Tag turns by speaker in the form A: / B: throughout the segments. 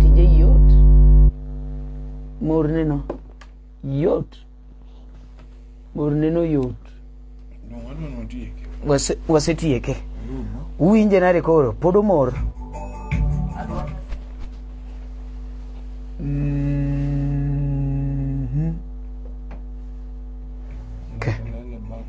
A: tije yot morneno yot morneno yot Wase- wasetieke uwinje nade koro pod omor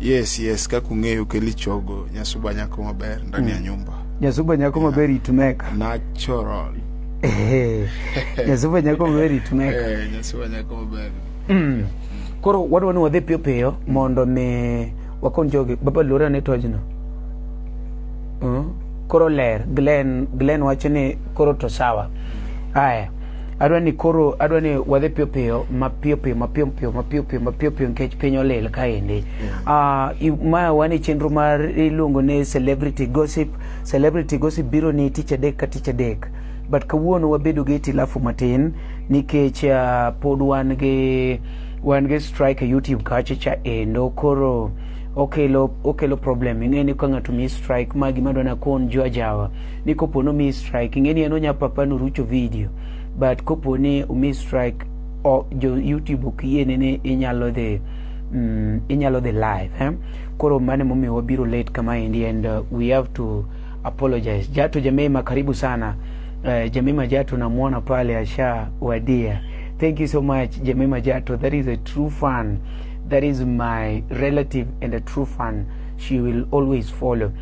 B: yes yes kaka ung'eyo keli chogo nyasuba nyako maber ndani ya nyumba nyasuba nyako maber
A: itumeka natural
B: Ehe.
A: nyasuba nyako maber itumeka eh nyasuba nyako
B: maber Mm.
A: koro wadwa ni wadhi piyo piyo mondo mi wakon jogi baba luora ne tojno Mm. koro ler glen glen wacho ni koro to sawa aya adwa ni koro adwa ni wadhi piyo piyo mapiyo piyo mapiyo piyo mapiyo piyo mapiyo piyo nikech piny olil kaendi Ah, i- ma wan e chenro mar iluongo ni celebrity gossip celebrity gossip biro ni tich adek ka tich adek but kawuono wabedo gi itilafu matin nikech ah, pod wan gi wan gi strike e youtube kacha cha endo koro okelo okelo problem ing'e ni ka ng'ato mi strike ma gima dwana kon jwa jawa ni kopo no mi strike ing'eni en onya papa no rucho video but kopo ni umi strike o, jo YouTube ok yiene ni inyalo dhi mm, inyalo dhi live eh? koro mane momiyo wabiro late kama endi and uh, we have to apologize Jato Jamema karibu sana uh, Jamema Jato namuona pale asha wadia thank you so much Jamema Jato that is a true fan that is my relative and a true fan she will always follow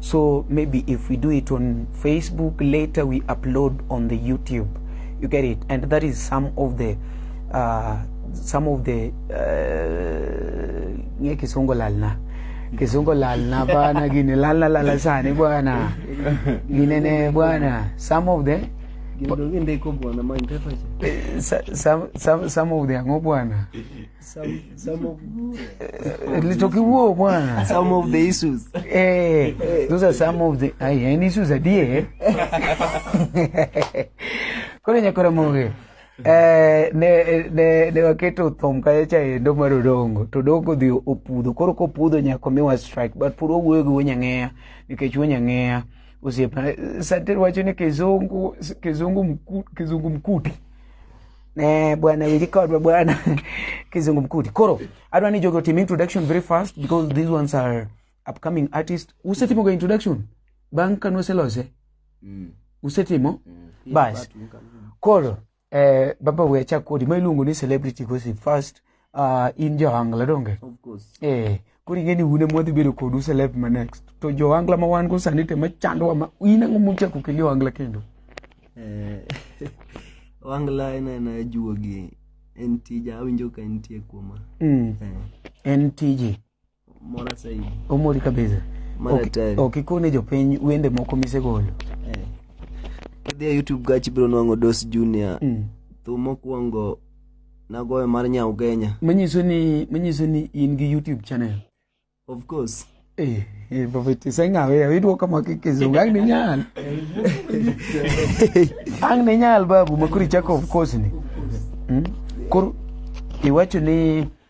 A: So maybe if we do it on Facebook, later we upload on the YouTube. You get it? And that is some of the uh, some of the uh, kisongo lalna kisongo lalna bana gine lalna lala sani bwana gine ne bwana some of the eh, some, some, some of the ango bwana Some, some of Eh, Little kiwuo
C: bwana. some of the issues. Eh, those
A: are some of the ai en issues adie. Kore nyakora moge. Eh, ne ne ne waketo thom kaya cha endo mar odongo to odongo dhi opudho koro kopudho nyako miwa strike but puro wuoyo gi wunyang'eya nikech wunyang'eya osiepna sater wacho ni kizungu kizungu mku, kizungu mkuti Eh, bwana wilikodwa bwana kizungu mkuti koro adwa ni jogo tim introduction very fast because these ones are upcoming artist usetimoga introduction bang' kane uselose usetimo bas koro eh, baba we achak kodi ma iluongo ni celebrity gossip first uh, in joangla donge of course eh
C: koro ing'e ni
A: un ema wadhi bedo kodu celeb ma next to joangla ma wan go sani te machandowa ma in ang'o muchako keli oangla kendo eh,
C: wangla en aena juogi en tija awinjo ka entie kuoma mm. eh. en
A: tiji
C: Mora saidi. Omori kabisa.
A: Mara Ok- tari. Ok ikone jopiny wende moko misegolo. Eh.
C: Kidhi e YouTube gachi biro nwang'o Dos Junior. Mm. Thum mokwongo nagoyo mar Nyau Genya. Manyiso ni
A: manyiso ni in gi YouTube channel. Of
C: course. Eh, eh babiti
A: senga we awidwo kama kikizungu ang ni nyal. ang ni nyal babu makuri chako of course ni. Mm? Kor iwacho ni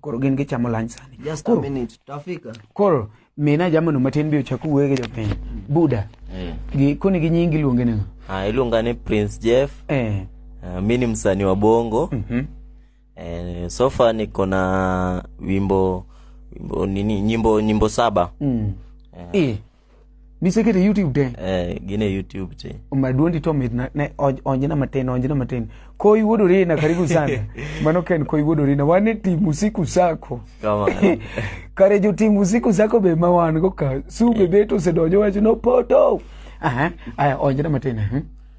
A: Koro gin gichamo lunch sani. Just koro, a minute,
C: tafika. Koro mina
A: jamano matin bi ochak wuoye gi jopiny. Mm. Buda. Eh. Gi koni gi nyingi luonge nang'o? Ah, iluonga ni Prince
D: Jeff. Eh. Uh, mi ni msanii wa Bongo. Mhm. Mm eh, so far niko na wimbo wimbo nini nyimbo nyimbo saba. Mm. Eh. E. misekete youtube te eh gine youtube te maduondi to mit
A: ne onjna matin onjna matin koi wuodori na karibu sana mano ken koi wuodori na wane tim usiku sako
D: kare jo
A: tim usiku sako be ma wan go ka su be eh. beto se dojo wacho no poto aha aya onjna matin eh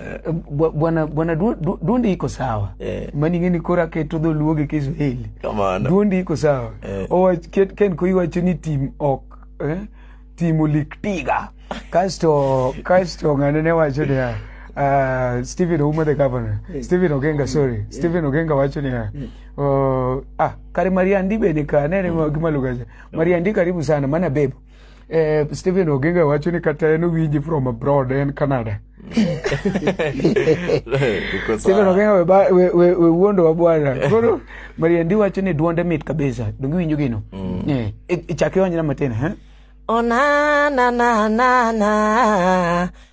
A: Eh, bwa- bwana bwana du- du- duondi iko sawa Eh. mani ng'eni koro aketo dholuo gi kiswahili Kamano. duondi iko
D: sawa
A: Eh. Owach- ket- ken ko iwacho ni tim ok eh, tim olik tiga kasto kasto ng'ane ne wacho niya ah, stephen ouma the governor stephen ogenga sorry stephen ogenga wacho niya oh, ah kare mariandi bende ka nene gimalugacha mariandi karibu sana mana bebo Eh, Stephen Oginga wacho ni kata en owinji from abroad en Canada. Uko Stephen sawa. Oginga we, ba- we, we, we wuondowa bwana. Koro Mariendi wacho ni duonde mit kabisa. Donge iwinjo gino? Eh, i- ichak iwanyna matin, ha? Oh na na na na
E: na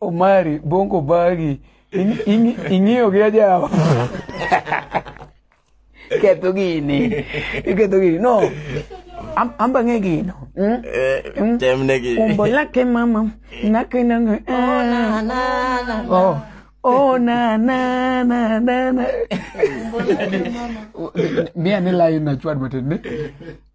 E: Omari,
A: bongo bagi. Ing'iyo gi ajawa. Ketho gini. Iketho gini. No. Am, am ba ng'e gino. Mm? Eh, mm?
D: Tem ne gi. Umbo lake
A: mama. Nake na ng'e. Oh, ah. na, na, na, na. Oh. Oh, na, na, na, na, na. Mia ni layo na chwad matin.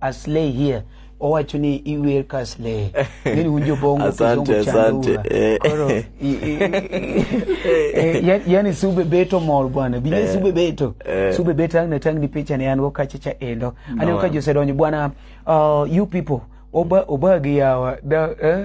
A: Aslay here owacho ni iwer ka slay ngeni unjo bongo asante asante
D: eh. koro
A: eh, yani sube beto mor bwana bije eh. sube beto sube beto ang natang ni picha ni anwo kacha cha endo anwo ka josedonyo bwana uh, you people oba oba gi yawa da eh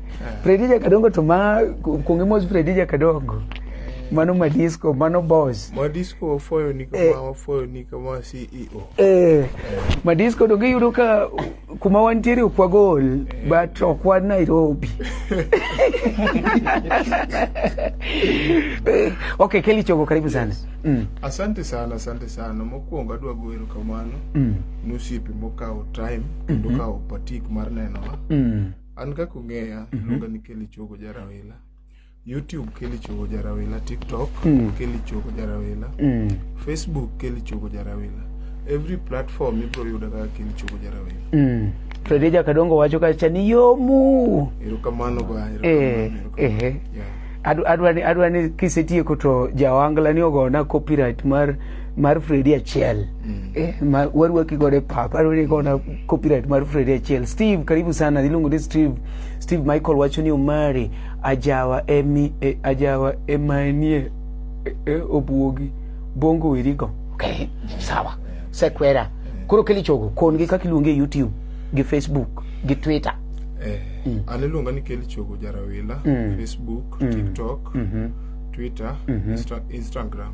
A: Fredija Kadongo to ma kuonge mos Fredija Kadongo. Mano ma disco, mano boss. Ma disco wafoyo ni
B: kama, eh, wafoyo ni kama CEO. Eh, ma
A: disco donge yudo ka kuma wantiere okwa gol, eh. but okwa Nairobi. Eh, okay, Kelly Chogo, karibu sana. Yes. Mm. Asante
B: sana, asante sana. Mokwongo adwa goyo erokamano mm. ni osiepe mokawo time kendo mm -hmm. kawo patik mar nenowa. Mm. an kaka ung'eya Mhm. luonga ni keli chogo jarawila youtube keli chogo jarawila tiktok Mm. keli chogo jarawila Mm. facebook keli chogo jarawila every platform ibro yuda kaka keli chogo jarawila Mm. Freddy Jakadongo
A: wacho kacha ni yomu. erokamano ba
B: Eh, erokamano, eh. erokamano. Yeah.
A: Adwa ni adwa ni kisetieko to jawangla ni ogona copyright mar mar Freddy achiel mm. eh, ma warwaki godo e pap arwaki kona copyright mar Freddy achiel Steve karibu sana iluongo ni Steve Steve Michael wacho ni Omari ajawa emi e, ajawa emanie e, e, obuogi bongo wirigo okay sawa sekwera koro keli chogo kon gi kaka iluonge YouTube gi Facebook gi Twitter eh mm. an
B: iluonga ni keli chogo jarawila mm. Facebook mm. TikTok mm -hmm. Twitter mm -hmm. Insta Instagram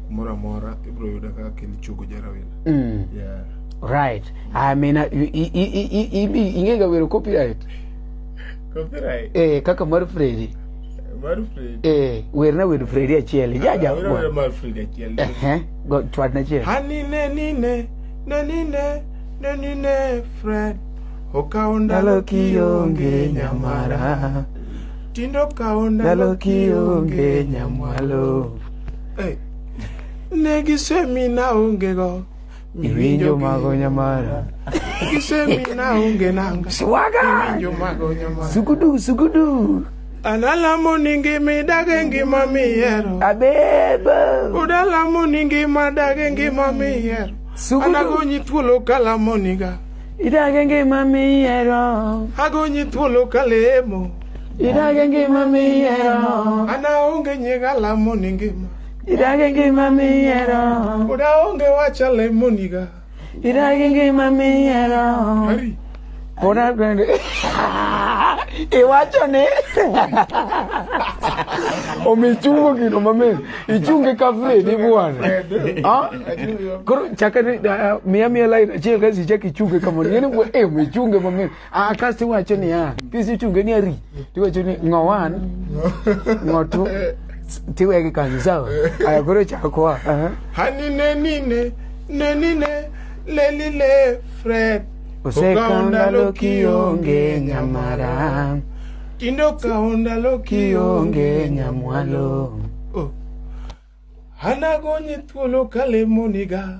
B: kumoro amora ibiro
A: yuda kaka kel chogo jarawina mm. yeah. right i mean uh, ingega wero copyright copyright eh kaka mar fredi mar fredi eh werna wero fredi achiel ah, jaja wero mar fredi achiel
B: eh, eh go twad
A: na chiel hani ne ni ne
B: ne ni ne ne ni ne fred okawo ndalo kionge nyamara tindo kawo ndalo kionge nyamwalo Hey. Ne gisemina ongego. Iwinjo
A: mago nyamara. Gisemina
B: onge nanga. Swaga. Iwinjo
A: mago nyamara.
B: Sugudu sugudu.
A: Analamo
B: ni ngima idage ngima mihero. Abeba.
A: Udalamo ni
B: ngima dage ngima mihero. Sugudu. Anagonyi thuolo kalamo niga. Idage ngima
A: mihero. Agonyi thuolo
B: kalemo. Idag e
A: ngima miyiero. An aonge
B: nying alamo ni ngima. Idag e ngima
A: miyiero. Pod aonge wach
B: alemo niga. Idag e ngima
A: miyiero. Ari.
B: Pod aonge.
A: Iwacho ni. Omi ichungo gino mamit. Ichunge ka Fredi bwana. Ah? Koro chakani miya miya line achiel kasi chak ichunge kamano. Ng'eni bwana eh omi ichunge mamit. Ah, kasto iwacho niya kisechunge ni ari tiwacho ni ng'o wan ng'o two tiwegi kanyo sawa aya koro chakwa aha. hanine
B: nine nenine lelile fred osekawo ndalo
A: kionge nyamara tindo
B: kawo ndalo kionge
A: nyamwalo Oh.
B: anagonye thuolo kalemoniga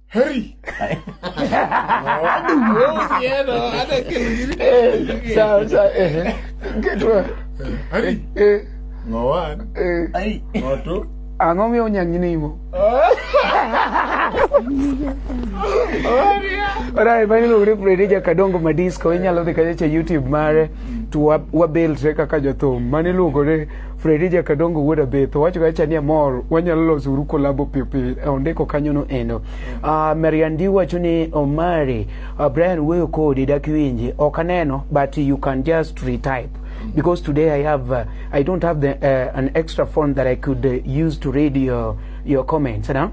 B: Hurry! I don't know. Yeah, no, I don't
A: care. Sawa sawa. eh. Ketwa. Hurry! Eh. Ngoan. Eh. Ai.
B: Ngoto. Ang'o miyo
A: onyang' inimo? Alright, mani lure Freddy Jakadongo Madisco inyalo dhi kanyo cha YouTube mare to wa- wabilre kaka jothum mani luongore Fredi Jakadongo wuod Abetho wacho ga cha ni amor wanyalo loso uru kolabo piyo piyo e ondiko kanyo no endo. Uh, Mariandi wacho ni Omari uh, Brian wuoyo kodi dak winji ok aneno but you can just retype because today I have uh, I don't have the, uh, an extra phone that I could uh, use to read your your comments, you know?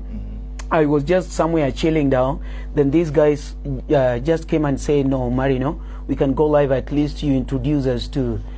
A: I was just somewhere chilling down. Then these guys uh, just came and said, "No, Marino, we can go live. At least you introduce us to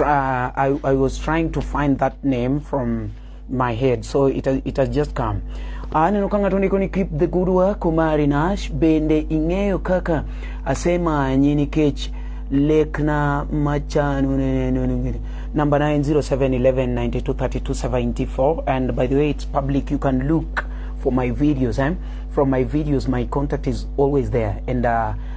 A: Uh, I, I was trying to find that name from my head so it has, it has just come aneno ka ng'ato ndiko ni keep the good work omari nash bende ing'eyo kaka asemanyi nikech lekna machanu number 90711923274 and by the way it's public you can look for my videos eh? from my videos my contact is always there and uh,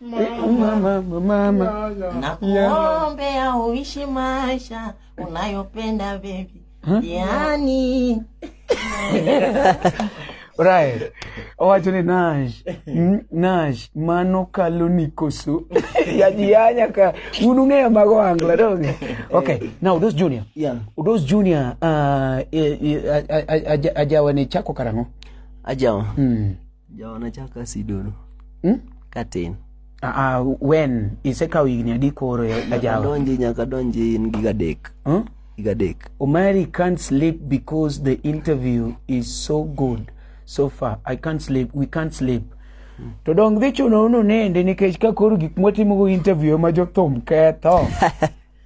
A: Mama, mama. Nakuombea
E: uishi maisha unayopenda baby. Yaani
A: Right. Owacho ni Nash, mm, Nash, mano kalo ni koso. Yajianya ka unung'eyo mago angla dong. Okay, now those junior. Yeah. Those junior
C: uh, eh, eh,
A: a- a- a- aja- ajawa ni chako karang'o? Ajawa.
C: Mm. Jaona chaka sidono. Hmm? Katin. Ah, uh,
A: when isekawo higni adi koro e ajawa? Donji nyaka donji
C: in gi gadek. Hmm? Gadek. Omari can't
A: sleep because the interview is so good so far. I can't sleep. We can't sleep. to dong dhi chuno unu nende nikech ka koro gik mwatimogo interview ema jothum ketho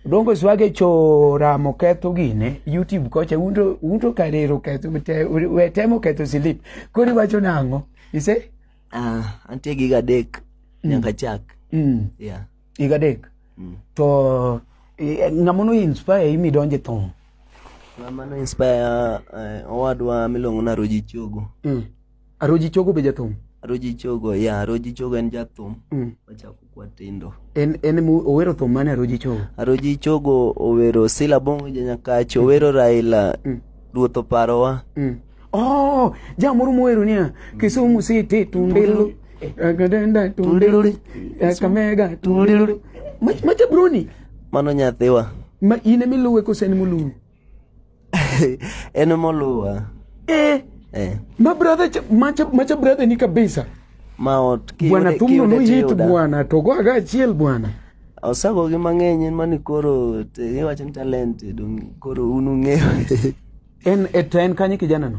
A: Dongo swage cho ramo ketho gine YouTube kocha unto unto karero ketho te we temo ketho silip. Kori wacho nango? Ise? Ah, uh, antie
C: giga dek mm. nyaka chak. Mm. Yeah. Giga dek.
A: Mm. To e, ngamono inspire imi donje thong. Ngamono
C: inspire uh, owadwa milongo na Roji Chogo. Mm. Aroji
A: Chogo be jathum? Aroji Chogo, yeah,
C: Aroji Chogo en jathum. Mm. Wachako kwa tindo. En en mu owero
A: thum mane Aroji Chogo? Aroji Chogo
C: owero Sila Bongo Janyakachi, mm. owero Raila. Mm. Ruoth oparowa. Mm. Oh,
A: jamoro mohero niya, Kisumu City tundelo. Agadenda tundelo. Kamega tundelo. Macha broni. Mano nyathiwa.
C: Ma ine miluwe
A: kose ni muluwe. en
C: moluwa eh, eh.
A: ma brother cha- macha macha brother ni kabisa ma ot kiyude-
C: bwana thumno kiyude
A: noyit tiyuda. bwana to goaga achiel bwana osagogi
C: mang'eny en mani koro te- iwacho ni talent dong' koro un ung'eyo en
A: e to en kanye kijanano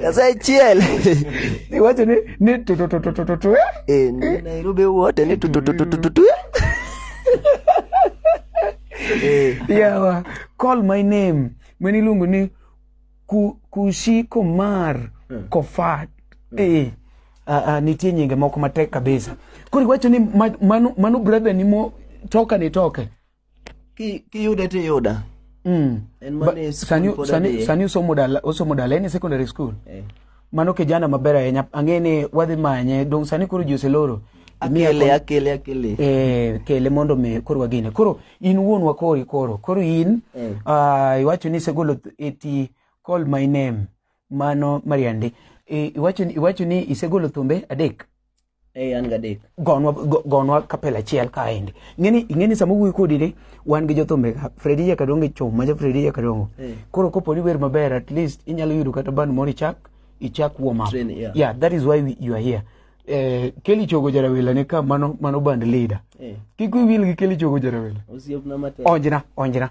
C: Sasa chiel. Ni wacho
A: ni ni tu tu tu tu tu tu. Eh,
C: ni Nairobi wote ni tu tu tu tu tu tu. Eh.
A: Yawa, call my name. Mweni lungu ni ku, kushi komar hmm. kofat. Hmm. Eh. Uh, uh, nitie nyinge moko matek kabisa. Kuri wacho ni manu, manu brother ni mo toka ni toke. Ki-
C: kiyude tiyuda Mm. en Ba- mane skul sani pod sani
A: adhiye. sani osomo dala osomo dala en e secondary school Eh. mano kijana maber ahinya ang'e ni wadhi manye dong sani koro ji oseloro Imiya akele kon- akele
C: akele eh,
A: kele mondo mi koro wagine koro in wuon wakori koro koro in Eh. ah, iwacho ni isegolo th- eti call my name mano mariande Eh, iwacho ni- iwacho ni isegolo thumbe adek Hey, an
C: gadek. Gonwa go- gonwa
A: kapel achiel kaendi. Ngeni ingeni sama wuoyi kodi ni wan gi jothumbe ka Fredi ya kadongo chom maja Fredi ya kadongo. Eh. Koro kopo ni wer maber at least inyalo yudo kata band moro ichak ichak warm up. Train, yeah. yeah, that is why we, you are here. Eh, Kelly Chogo Jarawila ne ka mano mano band leader. Eh. Kik wiyi wil gi Kelly Chogo Jarawila. Osiepna matek. Onjna,
C: onjna.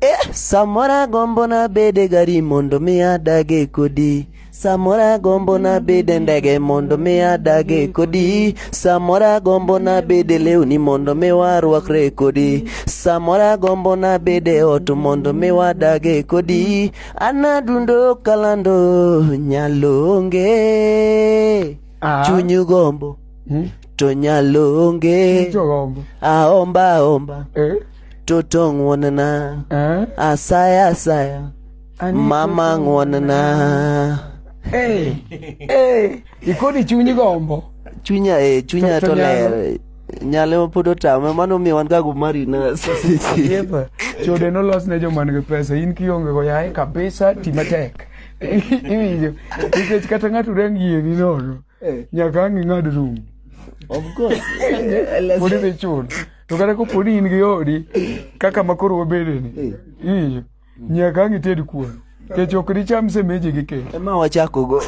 C: Eh, samoro agombo nabede gari mondo mi adage kodi samoro agombo nabede ndege mondo mi adage kodi samoro agombo nabede lewni mondo mi warwakre kodi samoro agombo nabede ot mondo mi wadage kodi anadundo kalando nyalonge Ah. chunyu gombo to nyalonge Jogombo. aomba aomba Eh? toto ng'wonna Eh? asaya asaya Ani- mama ng'wonna Eh. Eh.
A: Ikoni chunyi gombo. chunya eh,
C: chunya To- to to nyalo. ler nyalo pod otame mano miyo wan gago marinas Yeba.
A: Chode nolos ne joma nigi pesa. In kionge go yaye kabisa ti matek. Iwinjo. Nikech kata ng'ato rang yieni nono. eh. nyaka ang' ing'ad rum of
C: course pod idhi
A: chul to kata kopo ni in gi odi kaka ma koro wabedeni eh. iyo nyaka ang' ited kuon kech ok dicham semeji gi kech ema wachakogo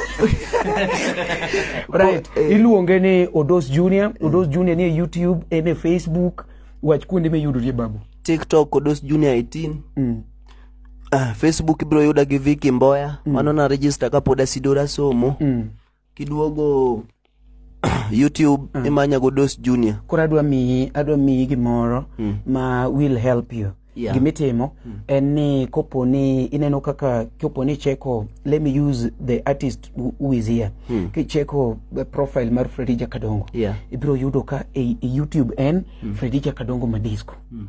A: right eh. iluonge ni odos junior odos junior nie youtube en e facebook wach kuonde miyudorie babu tiktok odos
C: junior 18 mm. uh, facebook ibiro yuda gi viki mboya mm. mano na register kapod asidora somo mm. kiduogo YouTube mm. imanya go Dos Junior. Koro adwa miyi
A: adwa miyi gimoro mm. ma will help you. Yeah. Gimitimo
C: mm. en
A: ni kopo ni ineno kaka kopo ni cheko let me use the artist who is here. Mm. Kicheko the profile mar Fredija Kadongo. Yeah. Ibiro yudo
C: ka
A: e, e YouTube en mm. Fredija Kadongo Madisco. Mm.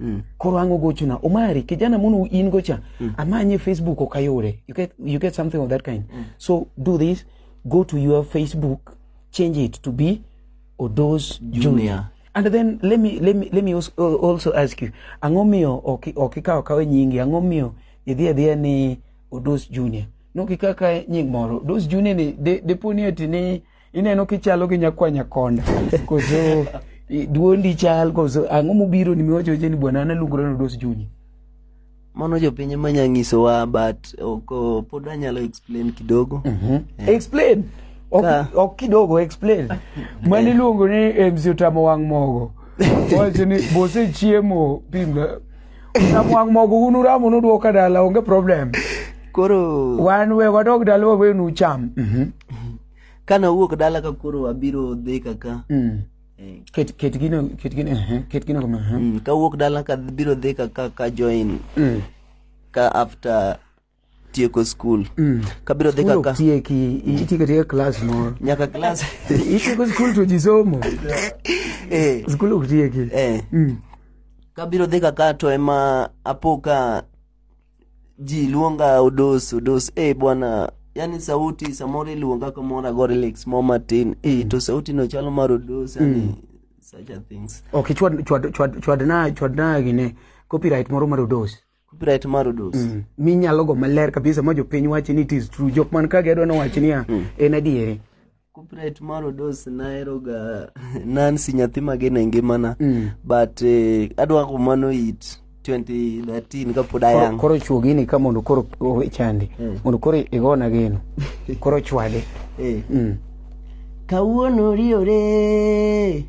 A: Mm. Koro ang'o gochona Omari kijana mono in gocha mm. amanye Facebook ok ayude you get, you get something of that kind mm. so do this go to your Facebook change it to be Odos Junior, Junior. and then let me, let me, let me also ask you ang'o miyo ok ikawo kawe nyingi ang'o miyo idhi adhiya ni Odos Junior no kikaka nying moro Odos Junior ni deponi de ati ni ineno kichalo gi nyakwanya konda koso duondi chal koso ang'o mobiro ni miwacho ni bwana analungore nodos junyi mano
C: jopiny ema nya nyisowa but ok pod anyalo explain kidogo mm-hmm. yeah. explain
A: ok Ka. ok kidogo explain mano iluongo ni eh, mzee otamo wang' mogo wacho ni bosechiemo pimga otamo wang' mogo un uramo nudwoka dala onge problem koro
C: wan we wadog
A: dala wawe nucham
C: ka nawuok dala ka koro abiro dhi kaka mm. eh. ket
A: ket gino ket gino eh, ket gino kama eh. mm, ka wuok
C: dala ka biro dhi kaka ka join mm. ka after tieko skul mm. kabiro dhi kaka tieki itieko tieko
A: klas moro nyaka klas
C: itieko skul
A: to ji somo eh. skul ok tieki eh. mm.
C: kabiro dhi kaka to ema apo ka ji luonga odos odos eh bwana yani sauti samoro iluonga kamoro agore lex mo matin eh to sauti no chalo mar odos yani such a things ok chwad chwad chwad
A: chwad na chwad na gine copyright moro mar odos copyright mar odos
C: mm. minyalo go
A: maler kabisa ma jopiny wachi ni it is true jok man ka gedwa no wachi niya en adieri Copyright mar
C: Odos naheroga Nancy nyathi mageno e ngimana Mm. but eh, adwa kumano it 2013 kapod Koro- ayang. koro chuo gini ka mondo
A: koro o- chandi Mm. mondo koro igona geno koro chwade Eh. Mm.
C: Kawuono riore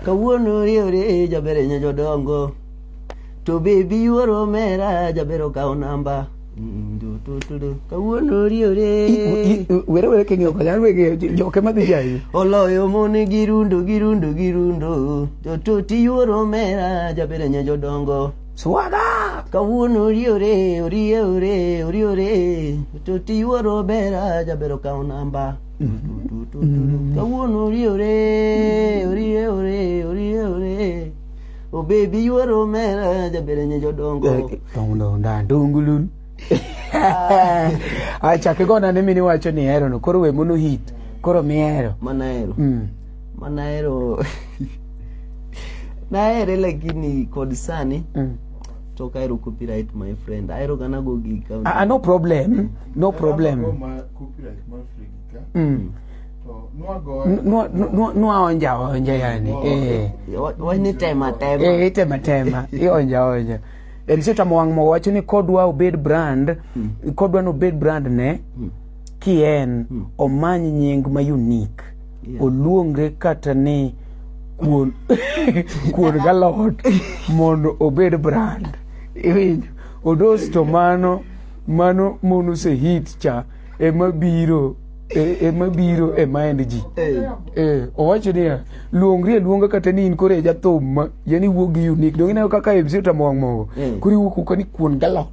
C: Kawuono riore jaber enye jodongo To bebi yuoro mera jaber okawo namba kawuono oriore were were king'iyo
A: kocha an wege joke madhi jayo oloyo mon gi
C: rundo gi rundo gi rundo joto tiyuoro mera jabere nya jodongo swaga
A: kawuono
C: oriore orie ore oriore joto tiyuoro mera jabero kawo namba kawuono oriore orie ore orie ore Oh baby you are omera jabere nye jodongo. Dongo nda dongulun.
A: Acha kigona ne mini wacho ni hero no koro we mono hit. Koro mi hero. Mana hero. Mm.
C: Mana hero. Nahere lakini kod sani. Mm. to kairo copyright my friend airo gana go gig ah, ah, no problem
A: no problem
B: mm.
A: nwaonja onja yani
C: eh. itema tema
A: ionja onja en sio tamo wang' mo wacho ni kodwa obed brand mm. kodwa nobed brand ne mm. ki en mm. omany nying ma unique yeah. oluongre kata ni kuon kuon galot mondo obed brand iwinjo odos to mano mano mono se hit cha ema biro e- ema biro e mind ji Eh, owacho niya luongri e luonga kata ni in koro e jathum ma yani wuog gi unique donge ineno kaka MC otamo wang' mogo koro iwuok kuka ni kuon galot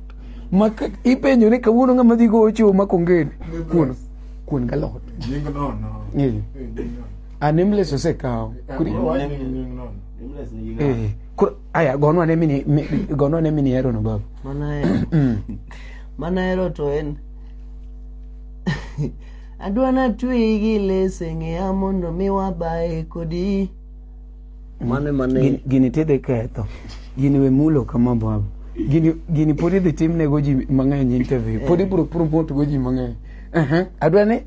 A: ma ka- ipenjo ni kawuono ng'ama dhi gowo chiwo ma kongeni kuon kuon galot Nying nono. Eh,
B: Eh, nying nono. a nameless
A: osekawo Koro- Nying nono. Eh, koro aya gonwa ne mini mi- gonwa ne mini hero no baba manahero
C: manahero to en adwa natweyi gi lese ng'eya mondo mi wabaye kodi mane mane Gini- gini tidhi
A: ketho gini we mulo kama baba gini gini pod idhi timnego ji mang'eny interview pod ibro promote go ji mang'eny Aha, adwa ni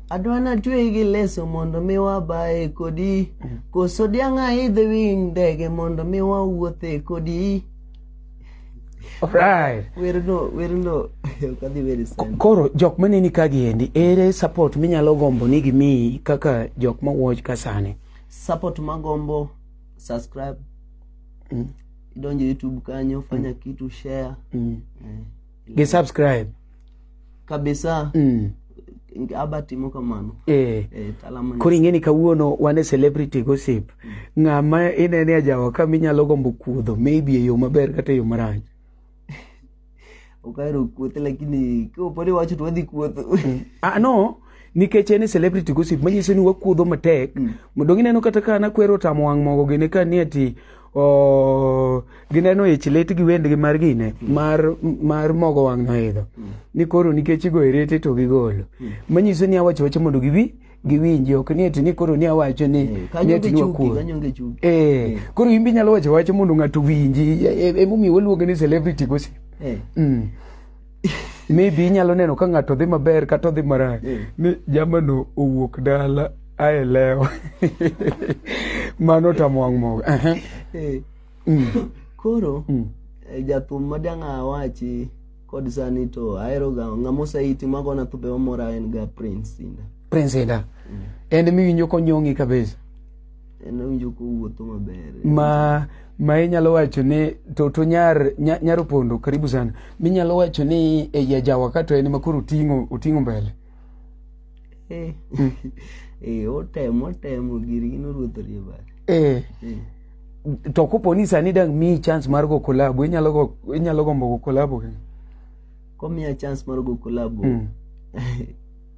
A: Adwana
C: tweyi gi leso mondo mi wabaye kodi koso diang' aidhe wi ndege mondo mi wawuothe kodi Alright.
A: werno werno
C: ok adhi weri Ko- sana
A: Koro jok maneni ka giendi ere support minyalo gombo ni gimiyi kaka jok ma watch ka sani. support magombo
C: subscribe idonje youtube kanyo fanya kitu share Mm. eh.
A: gi subscribe kabisa
C: mm. aba timo kamano eh. eh, koro ing'eni kawuono
A: wan e celebrity gossip mm. ng'ama inene ajawa ka minyalo gombo kuodho maybe e yo maber kata e yo marach okahero
C: kuothe lakini koponi wacho to wadhi kuotho mm. ah, no
A: nikech en e celebrity gossip manyiso ni wakuodho matek mm. modong' ineno kata ka nakwero tamo wang' mogo gini ka ni ati o gineno ich lit gi wendgi mar gine mar mar mogo wang' noidho ni koro nikech igoyo rete to gigolo manyiso ni awacho wacho mondo giwi giwinji ok ni eti ni koro ni awacho ni ni Kanyo eti gi ni chuki, wakuo kanyo gi chuki. eh koro in be inyalo wacho wacho mondo ng'ato winji E- e- emomiyo waluonge ni celebrity gossip Eh. mm. maybe inyalo neno ka ng'ato dhi maber kata odhi marach ni jamano owuok dala ae lewo mano tamwang' mogo Ehe. Eh, Mm.
C: koro Mm. eh, jathum ma dang' awachi kod sani to ahero ga ng'ama oseiti magona thumbe mamora en ga prince sinda prince
A: enda en miwinjo konyong'i kabisa
C: ma ma inyalo
A: wacho ni to to nyar nyar opondo karibu sana minyalo wacho ni e ya jawa kato en makoro oting'o oting'o mbele eh
C: hmm. eh otemo otemo giri gino ruoth riba eh, eh.
A: to kopo ni sani dang mi chance mar go collab inyalo go inyalo gombo go collab komiya
C: chance mar go collab mm.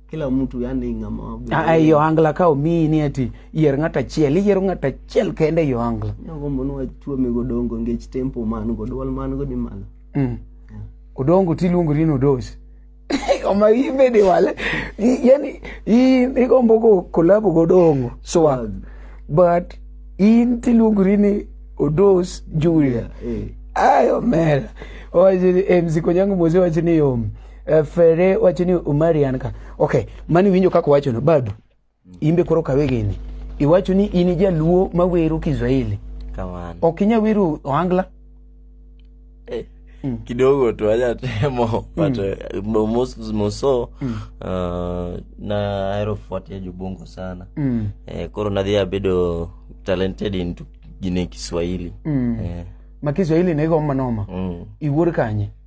C: kila mtu yani ngama ah yo angla ka
A: omi ni ati yer ngata chiel yer ngata chiel kende yo angla ngo mono achuo mi
C: godongo ngech tempo man go dwal man go ni malo mm
A: odongo ti luongo ni odos oma imbe ni wale yani i ni gombo go kolabo godongo so ah, but in ti luongo ni odos julia eh. ayo mera oje mziko nyangu mozi wachini yomu Eh, Fere wacho ni Umari an ka. Okay, mani winjo kaka wacho no bado. Imbe koro kawe gini. Iwacho ni in jaluo ma wero Kiswahili. Kamano. Ok
D: inya wero
A: Ohangla. Eh,
D: kidogo tu aja temo but eh, mo- mos- moso ah, na ahero fuatia jobongo sana Mm. Eh, koro nadhi abedo talented into gine kiswahili Mm. Eh, Ma
A: Kiswahili ne go manoma. mm. Iwuor kanye?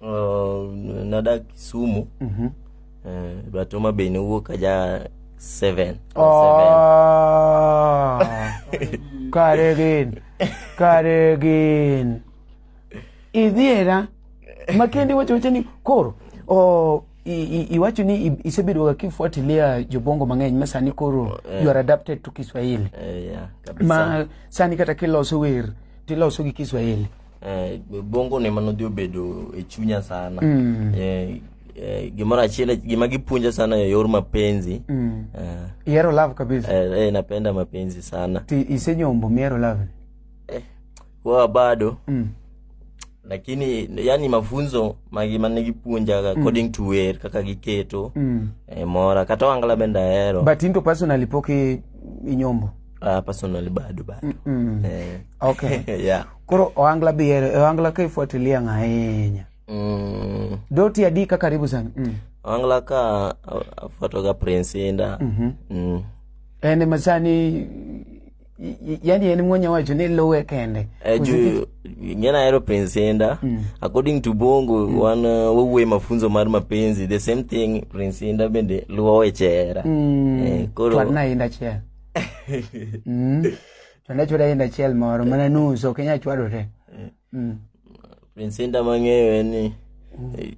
D: Uh, nada Kisumu. Mm-hmm. Uh, but Homa Bay ni wuok aja seven. Oh, kare
A: gin. Kare gin. Idhiera. Makendi wacho wacho ni koro. Oh, iwacho ni isebedo ga kifuatilia jobongo mang'eny ma sani koro oh, yeah. you are adapted to Kiswahili. Uh, yeah, ma sani kata kiloso wer tiloso gi Kiswahili. Eh, bongo
D: ne mano dhi obedo e chunya sana mm. eh, eh, gimoro achiel gima gipunja sana ya yor mapenzi mm. eh, ihero
A: love kabisa eh, eh, napenda mapenzi
D: sana ti isenyombo mihero
A: love eh,
D: kwa bado mm. lakini yani mafunzo magi mane gipunja mm. according to where kaka giketo mm. eh, mora kata wangala benda hero but into personally poke
A: inyombo uh, personally
D: bado bado mm -mm. eh.
A: okay yeah
D: koro oangla
A: bihero e oangla ka ifuatilia ng'ahinya mm. doti adi ka karibu sana mm. oangla ka
D: afuatoga prince inda mm -hmm.
A: mm. en ema sani yani en mwenye wacho ni luwe kende eh, juu
D: ngena hero prince inda mm. according to bongo mm. wan uh, wowuoye mafunzo mar mapenzi the same thing prince inda bende luwo wechera mm. eh, koro
A: inda chera mm. to ne chwada yiend achiel moro mana nus ok inyal chwado te Mm.
D: Prince Inda mang'eyo en ni eh,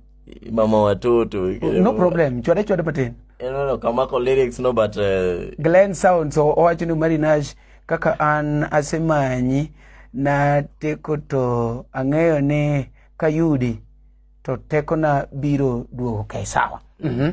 D: mama watoto. no problem
A: chwada chwada matin No, no, kamako
D: lyrics no but uh, glen sounds
A: o- owacho ni mari nash kaka an asemanyi na teko to ang'eyo ni kayudi to tekona biro duogo kae sawa Mhm.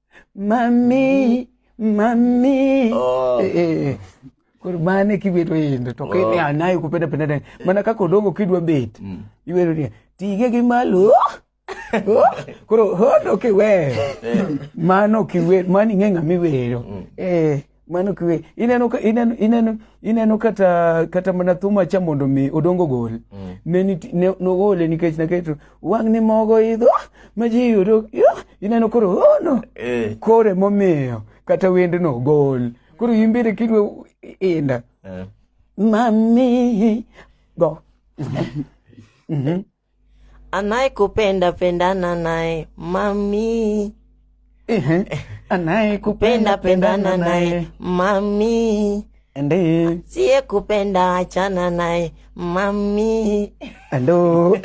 A: mami mami oh. eh, eh. eh. koro mane kibedo yendo to kene oh. anayo kupenda penda tena mana kaka odongo kidwa bet mm. iwero ni tige gi malo oh. koro hono kiwe eh. mano kiwe mani ng'e ng'ama iwero mm. eh mano kwe ineno ka- ineno ineno ineno kata kata mana thuma cha mondo mi odongo gol Mm. ne niti- ne nogole nikech naketo wang' ni mogo idho ma ji yudo ah, ineno koro oh no Eh. kore momiyo kata wendno gol koro imbire kidwe inda Eh. mami go
E: anayekupenda pendana naye mami Ehe,
A: anayekupenda pendana naye mami
E: ende
A: siye kupenda
E: achana naye mami ando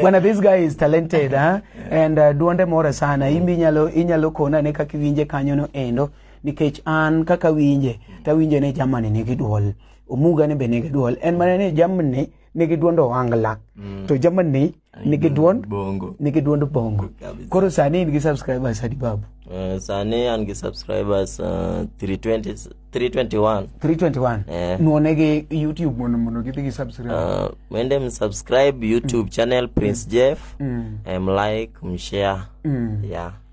A: bwana this guy is talented huh? and uh, duonde more sana imbi inyalo inyalo kona ne kaka iwinje kanyono endo nikech an kaka winje tawinje ne jamani nigi duol omuga ne be nigi dwol en mana ni jamni nigi duond owangla mm. to jamni nigi duond bongo nigi duond bongo koro sani in gi subscribers adi babu uh, sani an
D: gi subscribers uh, 320 321 321 yeah. nuone gi
A: youtube mondo mondo gidhi gi subscribe uh, mende
D: msubscribe youtube mm. channel prince mm. jeff mm. mlike mshare mm. yeah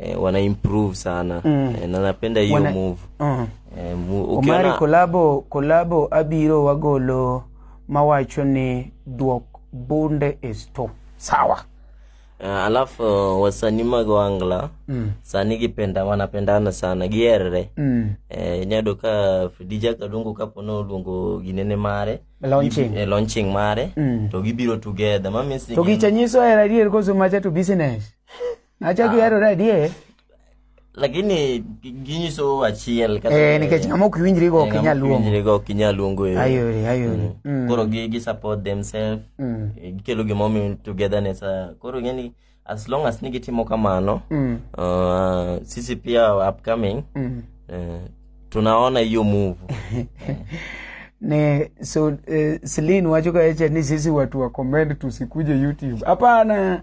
D: eh, wana improve sana mm. eh, na napenda hiyo Wana- move Mm. eh,
A: mu, omari ukiona kolabo kolabo abiro wagolo mawacho ni duok bunde is to sawa eh, alafu
D: uh, wasanii mag wangla mm. sani gipenda wanapendana sana gierre mm. eh, inyado ka fidija kadongo kapo no luongo ginene mare launching eh, launching mare Mm. to gibiro together ma means ni to gin- gicha nyiso hera
A: adier koso macha to business Acha gihero ah. radie. Lakini
D: ginyiso achiel kata eh nikech ng'ama ok winjri go
A: ok inyal luongo. Winjri go ok inyal
D: luongo e. Ayori ayori.
A: Mm. Mm. Koro gi gi
D: support themselves. Mm. Eh, gikelo gi momi togetherness. Ah, koro ngeni as long as ni gitimo kamano. Mm. Uh, sisi pia upcoming. Mm. Uh, tunaona hiyo move. ni
A: so eh, Celine wacho kaecha ni sisi watu wa comment tusikuje YouTube. Hapana.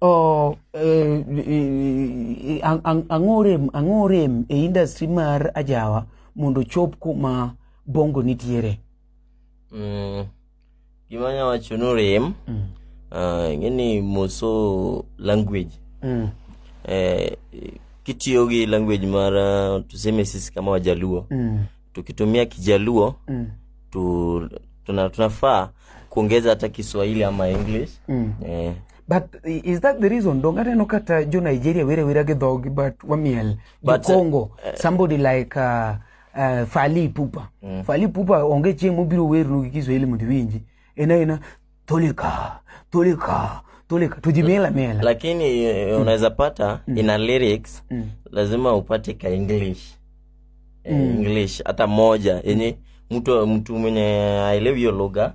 A: o eh, eh, ang- ang- ang'o rem ang'o rem e industry mar ajawa mondo ochop kuma bongo nitiere Mm,
D: gima anya wacho ni rem Mm. ah, ing'eni moso language Mm. eh, kitiyo gi language mar ah, tuseme sisi kama wajaluo Mm. tukitumia kijaluo Mm. tu, tuna, tunafaa kuongeza hata kiswahili ama english Mm. eh, But
A: i- is that the reason? Donge aneno kata jo Nigeria were awera gi dhogi but wamiel. Jo But, Congo, somebody like uh, uh, Fally Ipupa. Fally Ipupa onge chieng' mobiro wernu gi Kiswahili mondo iwinji. En aena toleka, toleka, toleka. To ji miel amiela. lakini eh, unaweza
D: pata ina lyrics lazima upate ka english Eh, english hata moja yenye mtu mtu mwenye aelewi hiyo lugha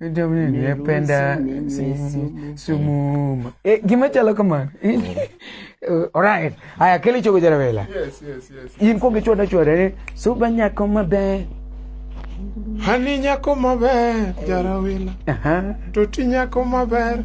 A: Dom ni ni penda sumuma. Eh, gima chalo kamano. Alright. Aya kele chogo jara vela. Yes, yes, yes.
B: In ko gichwa
A: chwa re suba nyako maber.
B: Hani nyako maber jara vela. Aha. To ti nyako maber.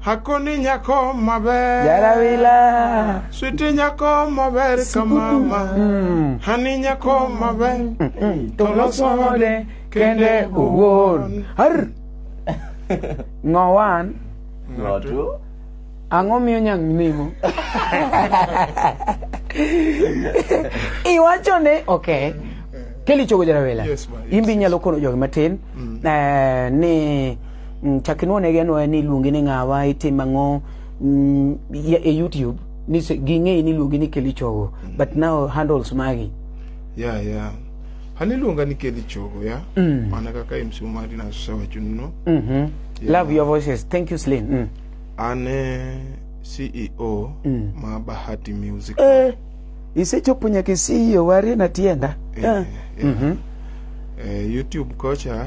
B: Hakoni nyako maber. Jarawila.
A: Switi nyako
B: maber kamama. Mm. Hani nyako maber. Mm, mm.
A: Tolosode kende uwon. Har. Ngowan. Ngotu.
D: Ang'o
A: miyo nyang nimo? Iwacho ne, okay. Keli chogo jarawila. Yes, ma. Imbi nyalo
B: kono jogi matin.
A: Mm. Eh, ni... Mm, chak inwonegi anwoya ni iluongi ni ng'awa itim ang'o mm, ya- e youtube ni se- ging'eyi ni iluongi ni keli chogo but now handles magi ya ya
B: an iluonga ni keli chogo ya Mm. mana kaka mc omari nasewachonuno Mhm. Yeah. love
A: your voices thank you slin mm. an e
B: ceo Mm. ma bahati music eh, isechopo
A: nyaka isiyo warie na tienda Eh, eh. yeah.
B: Mhm. Eh, youtube kocha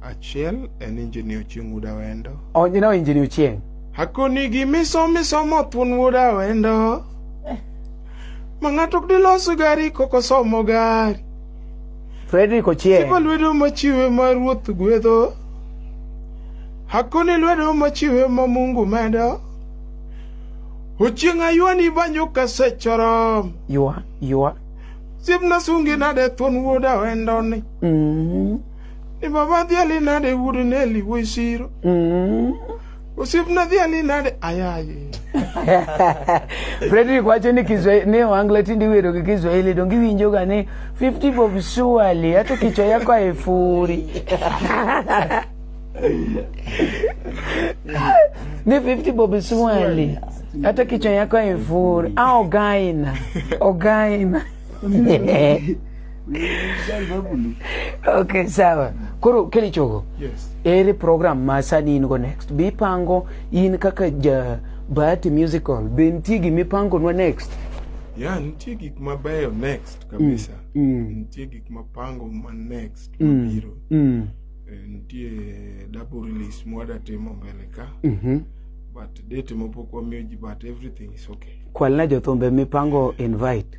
A: Achiel
B: en injini Ochieng' Wuod Awendo. Oh, you know injini
A: Ochieng'. Hakoni gi
B: miso miso mothun Wuod Awendo. Eh. Ma ng'ato ok dilos gari koko somo gari.
A: Frederick Ochieng'. Tipo lwedo machiwe
B: ma ruoth gwedho. Hakoni lwedo machiwe ma Mungu medo. Ochieng' aywani banyo kasechorom. Ywa, ywa.
A: Siepna
B: sungi nade thuon wuoda wendoni. Mm -hmm. ni baba dhi ali nade wuod neli wuoyi siro mm. osiepna dhi ali nade ayaye
A: frederick wacho ni kiswahili ni wangla tindi wero gi kiswahili donge iwinjoga ni 50 bob suali ato kichwa yako aefuri ni 50 bob suali hata kichwa yako aefuri a ogaina ogaina okay sawa koro keli chogo yes. ere
B: program ma
A: sani in go next bipango in kaka ja bahati musical be nitie gima ipangonwa next ya nitie
B: gik mabeyo next kabisa mm. mm. nitie gik mapango ma next mm. mabiro mm. Eh, nitie double release mwadatimo mbele ka mm -hmm. but date mopok wamiyo ji but everything is okay kwalna jothumbe
A: mipango invite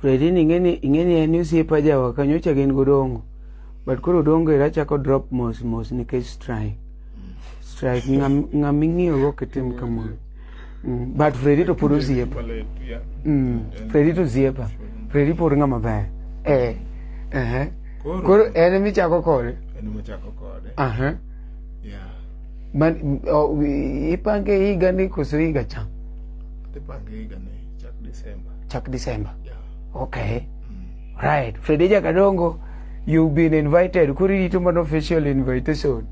B: Fredi
A: ni ing'eni ing'eni en osiepa jawa kanyocha gin godongo but koro dongo era chako drop mos mos nikech strike strike ng'ama ing'iyogo kitim kamoro mm, but Fredi to pod osiepa mm, Fredi to osiepa Fredi pod ng'ama ber eh, eh. koro en emichako kode en emichako kode aha yeah man ipange higa ni koso higa cha ipange
B: higa ni Chak
A: December. Chak December. Yeah. Okay. Mm. Right. Fredeja Kadongo, you've been invited. Kuri rito man official invitation. Mm.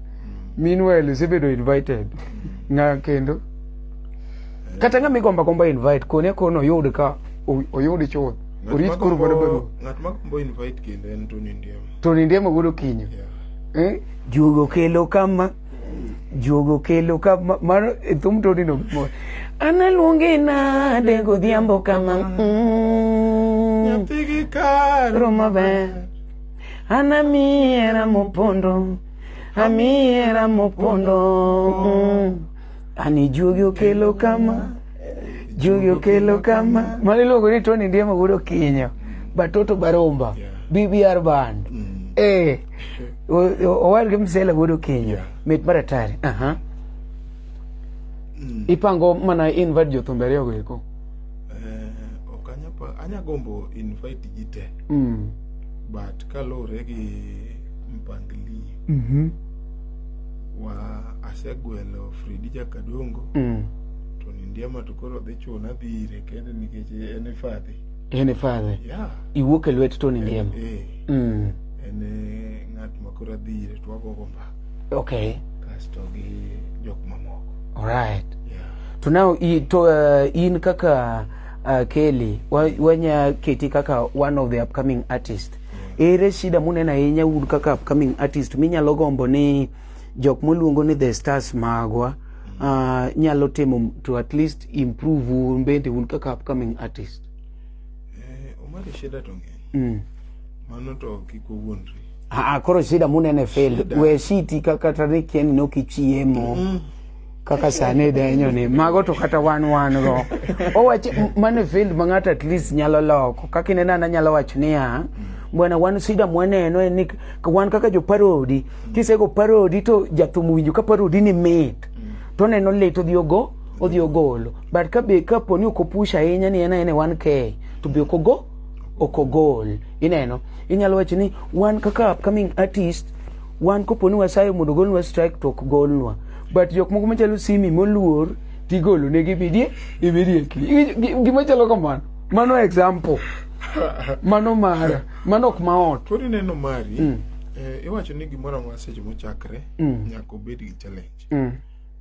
A: Meanwhile, isebedo invited. Mm. Nga kendo. Eh. Kata nga migomba komba invite, kone kono yod ka, oyod chod. Urit kuru bado bado. Ngat ma kombo invite
B: kendo en Tony Ndiema. Tony Ndiema
A: gudo kinyo. Yeah. Eh?
B: Jugo kelo
A: kama. Juogo kelo ka ma- mano e thum toni no mor. Analuonge nade godhiambo kama. Mm. Nyathi
B: gi kar Ro maber.
A: An amiera mopondo. Amiera mopondo. Mm. An ijuogi okelo kama. Juogi okelo kama. Mano iluongo ni Tony Ndiema wuod Okinyo. Batoto Baromba. BBR Band. Eh. owadgi msela wuod okinyi mit mar atari aha mm. ipango mana invite jothumbe ariyogo eko eh, ok
B: anya gombo invite ji te mm. but kaluwore gi mpangilio mm-hmm. wa asegwelo fredi jakadongo mm. to nindiema to koro dhi chuna dhi ire kende nikech en ifadhi En e father.
A: Yeah. Iwuok e
B: lwet Tony
A: Ndiema. Eh. Mm. En e
B: ng'at ma koro adhi ire to wago go mbaka. Okay. Kasto
A: gi
B: jok mamoko. All right. Yeah.
A: To
B: now i
A: to uh, in kaka uh, Kelly wanya keti kaka one of the upcoming artists. Yeah. Ere shida munena ahinya un kaka upcoming artist minyalo gombo ni jok moluongo ni the stars magwa mm. uh, nyalo timo to at least improve un bende un kaka upcoming artist eh,
B: omari shida to ng'eny mm. mano to kik owuondri Aa, koro shida
A: munene fail we shiti kata ni kieni nokichiemo mm. kaka sani denyo ni mago to kata wan wan go owacho mane fail ma ng'ato at least nyalo loko kaka ineno ana nyalo wacho niya mm. bwana wan sida mwaneno en ni wan kaka jo parodi kisego parodi to jathum winjo ka parodi ni mit to neno lit odhi ogo odhi ogolo but ka be ka poni ok opush ahinya ni en aena 1k to be ok ogo ok ogol ineno inyalo wacho ni wan kaka upcoming artist wan koponi wasayo mondo ogolnwa strike to ok golnwa but jok moko machalo simi moluor tigolo ne gibidie immediately Gi- gi- gima chalo kamano mano example mano mara mano ok maot Koro ineno mari,
B: Mm. eh, iwacho ni gimoro amora seche mochakre Mm. nyaka obed gi challenge. mm.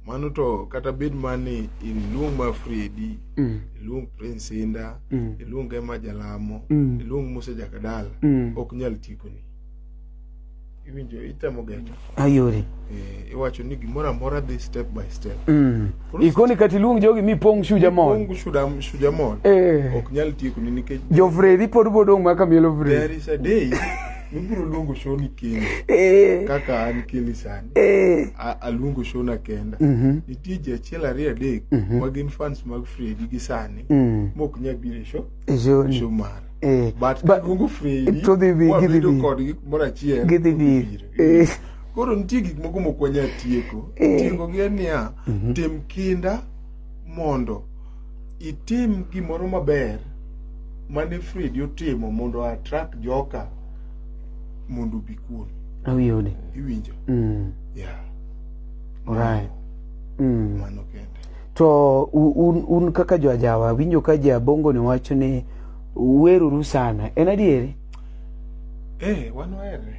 B: mano to kata bed mani iluong ma fredi Mm. iluong prince inda Mm. iluong ema jalamo Mm. iluong musa jakadala Mm. ok nyal tikoni iwinjo itemo geno ayore Eh,
A: iwacho ni
B: gimoro amora dhi step by step Mm. ikoni
A: kata iluong jogi mipong' shuja mon Ongu shuda- shuja mon
B: Eh. ok nyal tiekoni nikech jofredi pod
A: bodong' maka mielo there fredi is a day
B: Ibiro luongo shoni kendo Eh, kaka an keli sani. eh, A- Aluongo shona kenda. mhm, Nitie ji achiel ariyo adek Mhm. ma gin fans mag Fredi gi sani mm, mok nyal biro e show e show ni. show mara. Eh, But ba- kaluongo Fredi to dhi bi- gidhi wabedo bi. kodgi kumoro achiel. Gidhi to bi. gibiro. Eh, Koro nitie gik moko mok wanyal tieko. Eh. Tieko gi en niya, Mhm. tim kinda mondo itim gimoro maber mane Fredi otimo mondo atrak joka mondo obi kuomi. Awiyode.
A: Iwinjo? Mm.
B: Yeah.
A: Alright. Mm.
B: Mano kende. To
A: un, un kaka jo ajawa winjo ka ja bongo ni wacho ni weruru sana. En adieri?
B: Eh, wan wahere.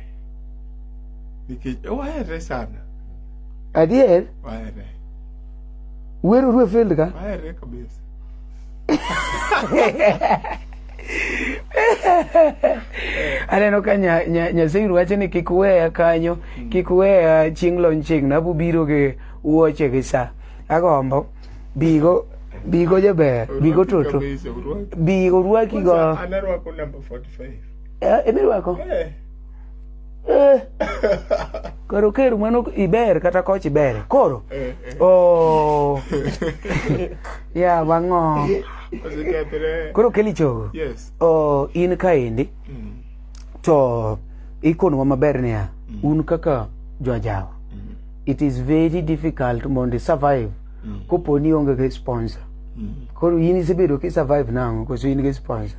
B: Nikech eh, wahere sana. Adier?
A: Wahere. Wer orue failed ka? Ahere
B: kabisa.
A: Aneno ka nya, nya, Nyaseiru wacho ni kik weya kanyo, kik weya chieng' lony chieng' na bubiro gi wuoche gi sa. Agombo bigo bigo jaber, bigo toto. Kabisa, urwaki. Bigo rwaki go. Kwanza, Anarwako
B: number 45. Eh, imirwako? Eh.
A: Eh. koro ker mano iber kata koch iber koro eh, eh. oh. ya bang'o koro keli chogo oh,
B: in kaendi
A: mm. to ikonwa maber niya mm. un kaka jojawa mm. it is very difficult mondo survive kopo ni onge gi sponsor koro in isebedo ki survive nango koso in gi sponsor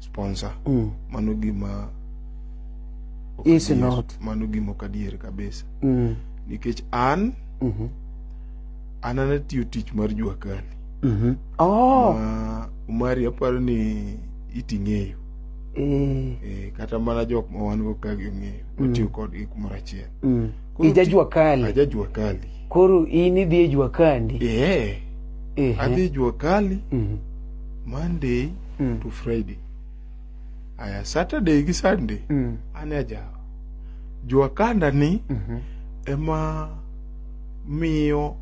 B: sponsor mm. mano gima
A: is not mano gima ok adier
B: kabisa mm. nikech an mm -hmm. an anatiyo tich mar juakali mm -hmm. oh. Ma, umari aparo ni iting'eyo mm. e, kata mana jok ma wan go ka ging'eyo mm. watiyo kodgi kumoro achiel mm. ija
A: juakali aja juakali
B: koro in idhi
A: e juakali yeah. e eh.
B: adhi e juakali mm -hmm. monday mm. to friday aya saturday gi sunday mm. an ajawa jwakanda ni mm -hmm. ema miyo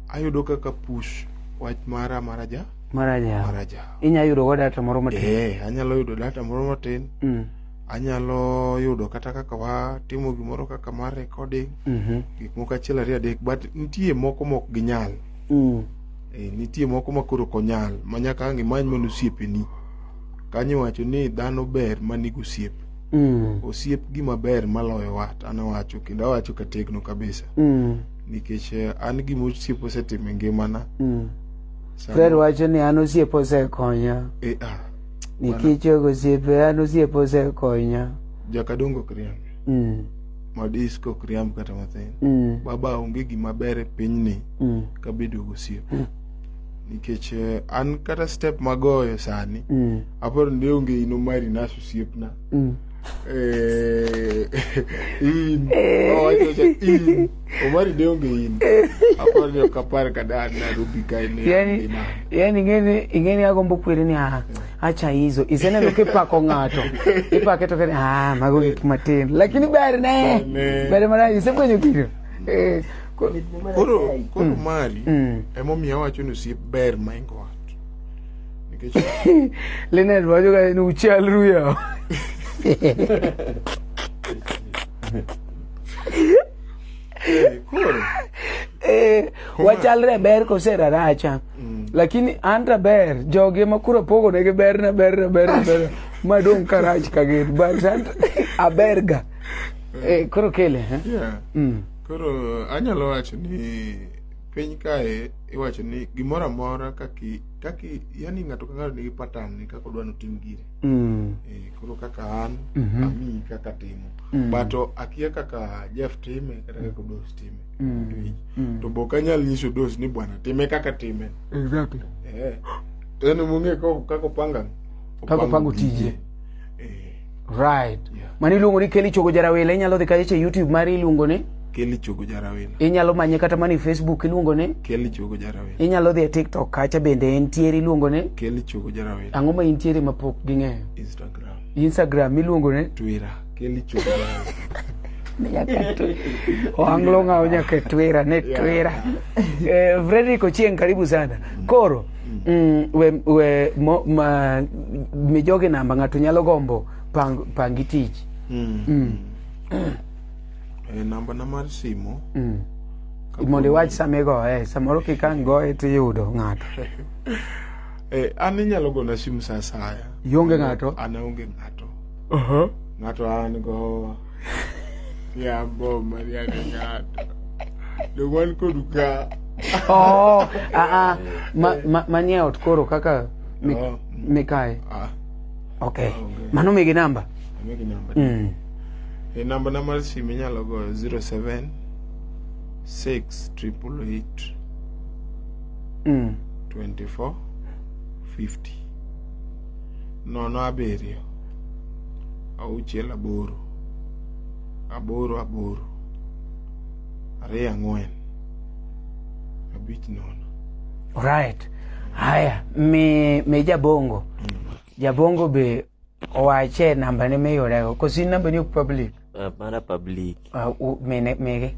B: ayudo kaka push wach mara mara ja mara ja mara ja
A: inya yudo go data moro matin eh anyalo yudo data moro
B: matin mm. anyalo yudo kata kaka watimo gimoro kaka mar recording mm -hmm. gik moko achiel ariyo adek but nitie moko mok ginyal mm. Eh, nitie moko ma koro ok onyal ma nyaka ang' imany mana osiepeni kanyo iwacho ni dhano ber ma nigi osiep Mm. osiep gima ber maloyo wat an awacho kendo awacho kategno kabisa Mm. nikech eh, an gima osiep osetimo e ngimana Mm. Sama-
A: Fred wacho ni an osiep osekonya. Eh, ah, Nikech jogo osiepe an osiep osekonya. jakadongo
B: kriange Mm. madisko ok riamb kata matin mm. baba onge gima ber e pinyni mm. kabedo gosiep mm. nikech eh, an kata step magoyo sani mm. aparo ni onge ino mari nas osiepna mm. eh, in eh. owachocha oh, in omari de onge in eh. aparo ni ok apar kada an narobi kaene yani
A: ing'eni agombo kwere ni aha yeah. acha hizo iseneno kipako ng'ato ipake to kani ah mago gik matin lakini ber ne Amen. ber mana isefwenyo gino Eh, ko- koro
B: koro mari Mm. emomiyo awacho ni osiep ber maingo wat nikech
A: Lynette wacho ka ni uchal ruya Eh, koro. Eh, Kuma- wachalre e ber kose raracha lakini an to ber jogi ema koro pogonegi ber na ber na ber na ber madong' ka rach ka gin but an to- aberga Eh, koro kele eh? Yeah. Mm. Koro
B: anyalo wacho ni piny kae iwacho ni gimoro amora kaki kaki yani ng'ato ka ng'ato nigi pattern ni kaka odwa ni otim gire. Mm. Eh, koro kaka an Mhm. ami kaka timo Mm. but o- akia kaka jeff time kata kaka dos time Mm. Iwinjo? Mm. to be ok anyal nyiso dos ni bwana time kaka time Exactly. Eh,
A: to
B: en mong'e ko- kaka opanga Kaka opango tije.
A: Eh, Right. Yeah. Mani iluongo ni Kelly Chogo Jarawila inyalo dhi kache YouTube mari iluongo ni Kelly Chogo Jarawina.
B: Inyalo manye kata mani
A: Facebook iluongo ni Kelly Chogo Jarawina.
B: Inyalo dhi e TikTok
A: kacha bende entiere iluongo ni Kelly Chogo Jarawina.
B: Ang'o ma intiere ma pok
A: ging'eyo? Instagram. Instagram iluongo ni Twitter. Kelly
B: Chogo Jarawina. Oanglo ng'awo
A: nyaka Twitter ne Twitter. Eh, Frederick Ochieng karibu sana. Koro mm, we, we mo, ma, mijogi namba ng'ato nyalo gombo pang, pangi tich. Mm. Mm.
B: Eh, namba na mar simu mm.
A: mondo iwach sama igoye samoro kik ang' goye tiyudo ng'ato
B: eh, an inyalo gona simu sa asaya ionge ng'ato an
A: aonge ng'ato
B: uh-huh. ng'ato an go yambo mariane ng'ato dowan kodu ka oh, ah, ah.
A: manie ot koro kaka oh. mikae ah. Okay. Ah, okay. Mano migi namba. Migi namba. Mm.
B: E namba na mar simu inyalo go 07 6 triple eight. Mm. 24 50. Nono abiriyo. Auchiel aboro. Aboro aboro. Ariyo ang'wen. Abich nono. All right.
A: Haya, mi, mi jabongo. Jabongo be owache namba ne miyudego. Kosi namba ni ok public. Uh, mara public
D: Uh, u- mine, mege.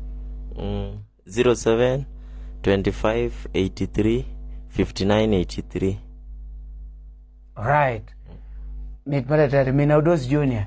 D: mm, 07 25 83 59 83 Right.
A: Mit malatari, mina Odos Junior.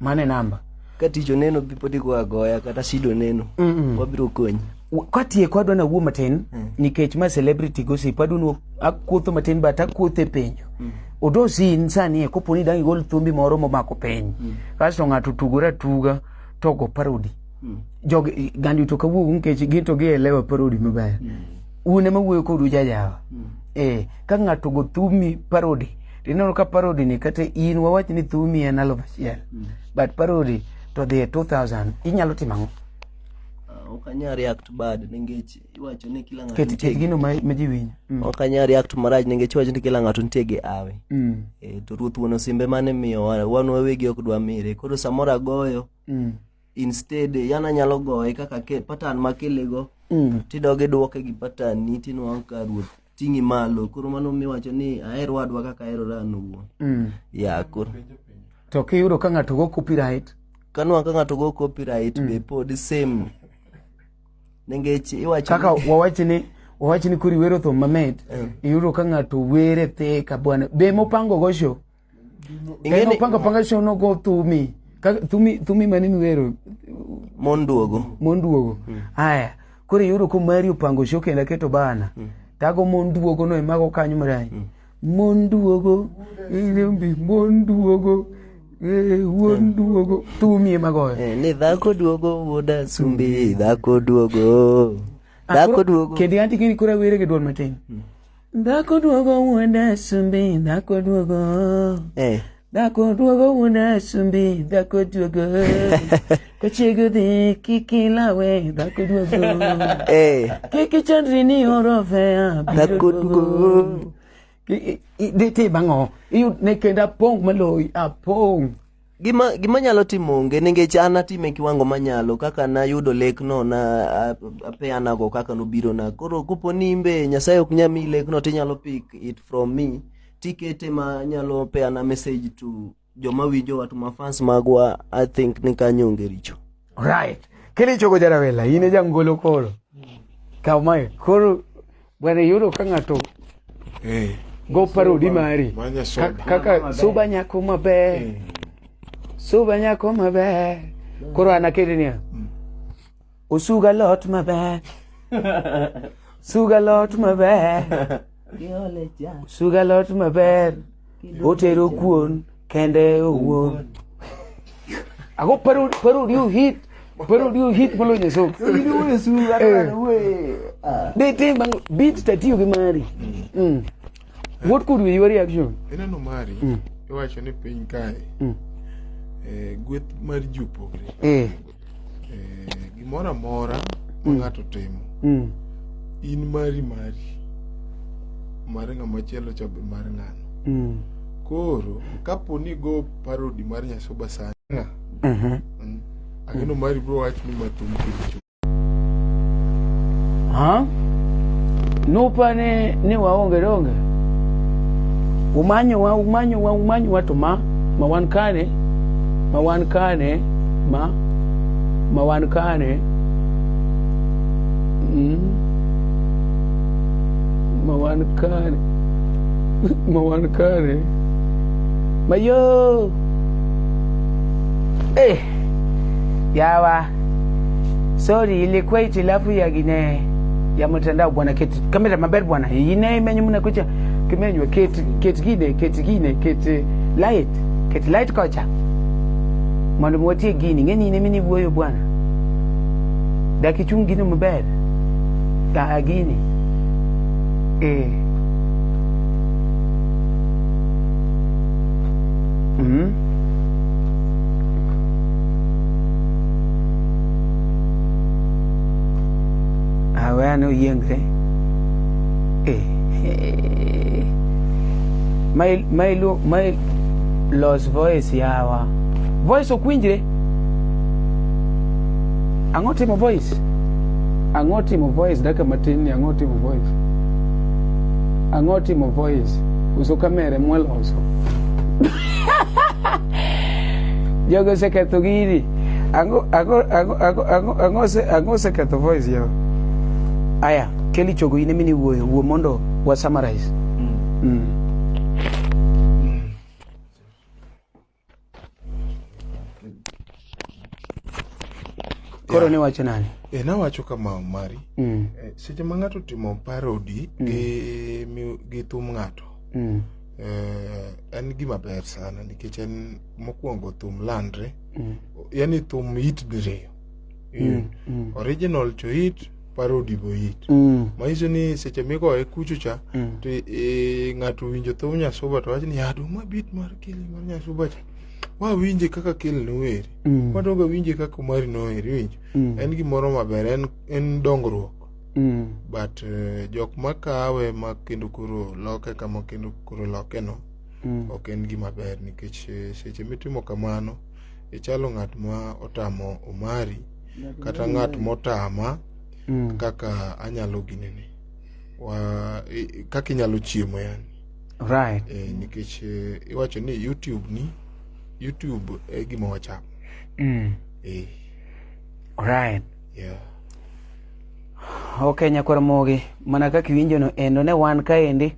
A: mane namba ka tich oneno
C: pod igo agoya kata shida oneno wabiro konyi katieko adwa
A: nawuo matin mm. nikech ma celebrity gossip adwa akuotho matin but akuothe penjo mm. odosi insani e kopo ni dang' igol thumbi moro momako piny mm. kasto ng'ato tugore atuga to go parodi mm. jog gandi to kawuok nikech gin to gielewa parodi maber mm. un ema wuoyo kodu jajawa mm. eh, ka ng'ato go thumi parodi to ineno ka parody ni kata in wawach ni thumi en aluf achiel mm. but parody to dhi e 2000 inyalo timo ang'o ah, ok
C: anyal react bad nikech iwacho ni kila ng'ato nitie ket gino ma ji
A: winjo mm. ok anyal react
C: marach nikech iwacho ni kila ng'ato nitie gi awe mm. e, to ruoth wuon osimbe mane miyo wan wawegi ok dwa mire koro samoro agoyo mm. instead yan anyalo goye kaka patan makilego mm. tidogi duoke gi patan ni tinwang' ka ruoth ting'i malo koro mano miwacho ni aher wadwa kaka aherora an owuon mm. ya koro to
A: kiyudo ka ng'ato go copyright kanwa ka ng'ato
C: go copyright mm. be pod same nengech iwacho kaka wawachi ni
A: wawachi ni kuri wero thum mamit mm. iyudo ka ng'ato were thee ka bwana be mopango go show Ingeni panga panga show no go to me. To me to me mani miwero. Monduogo. Monduogo. Hmm. Aya. Mm. Kore yoro ko mari upango show kenda keto bana. Mm. Tago monduogo no emago kanyo mrai. Mm. Monduogo. Ile mbi monduogo. Eh, wuon duogo tumie magoyo eh, ni dhako duogo
C: wuoda sumbi dhako duogo dhako duogo
A: kendo antikini kura were gi duol matin hmm. Dhako duogo wuod asumbi, dhako duogo. Eh. Dhako duogo wuod asumbi, dhako duogo. Kochiego dhi kik ilawe, dhako duogo. Eh. Kik ichandri ni oro fea, biro Dhako duogo.
C: I-
A: i- i- Dhi tim ang'o? Iyud ne kendo apong' maloyi, apong'. gima gima
C: nyalo timo onge nikech an atime kiwango manyalo kaka nayudo lekno na a- apeanago kaka nobiro na koro kopo ni imbe nyasaye ok nya mi lekno tinyalo pick it from me tikete ma nyalo peana message to joma winjowa to mafans magwa i think ni kanyo onge richo Right.
A: Kilichogo jarawela, in e jangolo koro. Kaw mae, koro bwana yudo ka ng'ato eh. go parodi mari. Kaka suba nyako maber. Eh. Suba nyako maber. Koro anaketi niya. Mm. Osuga lot maber. Suga lot maber. suga lot maber otero kuon kende owuon ago paro paro you hit paro you hit malo nyeso de te bang beat tatiyo gi mari mm. what could be your reaction ineno mari
B: iwacho ni piny kae eh, gweth mar ji opogre eh eh, gimoro amora ma mm. ng'ato timo mm. in mari mari mar ng'ama chielo cha be mar ng'ano mm. koro kapo ni go parodi mar nyasoba sana mm-hmm. mm. ageno mari bro wach ni mathum kicho ha
A: nupane ni waonge donge umanyowa umanyowa umanyowa to ma ma wan kane ma wan kane ma ma wan kane mm, ma wan kane ma wan kane mayo eh yawa sorry ilikuwa itilafu ya gine ya mtandao bwana keti kamera maber bwana ine imenye mnakucha kimenywa keti keti gine keti gine keti light Ket light kocha. Mondo mwatie gini. Ng'e ni in emini wuoyo bwana. Dak ichung gino maber. Ka a gini. Eh. Mhm. Awe ano yiengre. Eh. Eh, my, my, my lost voice yawa voice ok winjre ang'o timo voice ang'o timo voice daka matin ni ang'o timo voice ang'o timo voice uso kamere mweloso jogo oseketho gini ang'o oseketho voice yawa aya Kelly chogo in emini wuoyo wuo mondo wa summarize. Mm. Mm. Koro ne wacho nani? E, nawacho kama
B: Omari. Mm. E, seche ma ng'ato timo parody mm. gi, mi, gi thum ng'ato mm. e, en gima ber sana nikech en mokwongo thum landre mm. yani thum it diriyo mm. mm. original to it paro odibo it Mm. manyiso ni seche migoye kucho cha Mm. to eh, ng'ato winjo thum nyasuba to wacho ni adu ma bit mar kele mar nyasuba cha wawinje kaka kele noweri Mm. wadoga winje kaka omari noeri winjo Mm. en gimoro maber en, en dongruok Mm. but eh, jok makawe ma kendo koro loke kama kendo koro loke no Mm. ok en gima ber nikech eh, seche mitimo kamano ichalo ng'at ma otamo omari kata ng'at motama mm. kaka anyalo ginene wa kaka inyalo chiemo yani right e,
A: nikech e,
B: iwacho ni youtube ni youtube e gima wachamo mm. e.
A: right
B: yeah ok
A: nyakwar mogi mana kaka iwinjono endo ne wan kaendi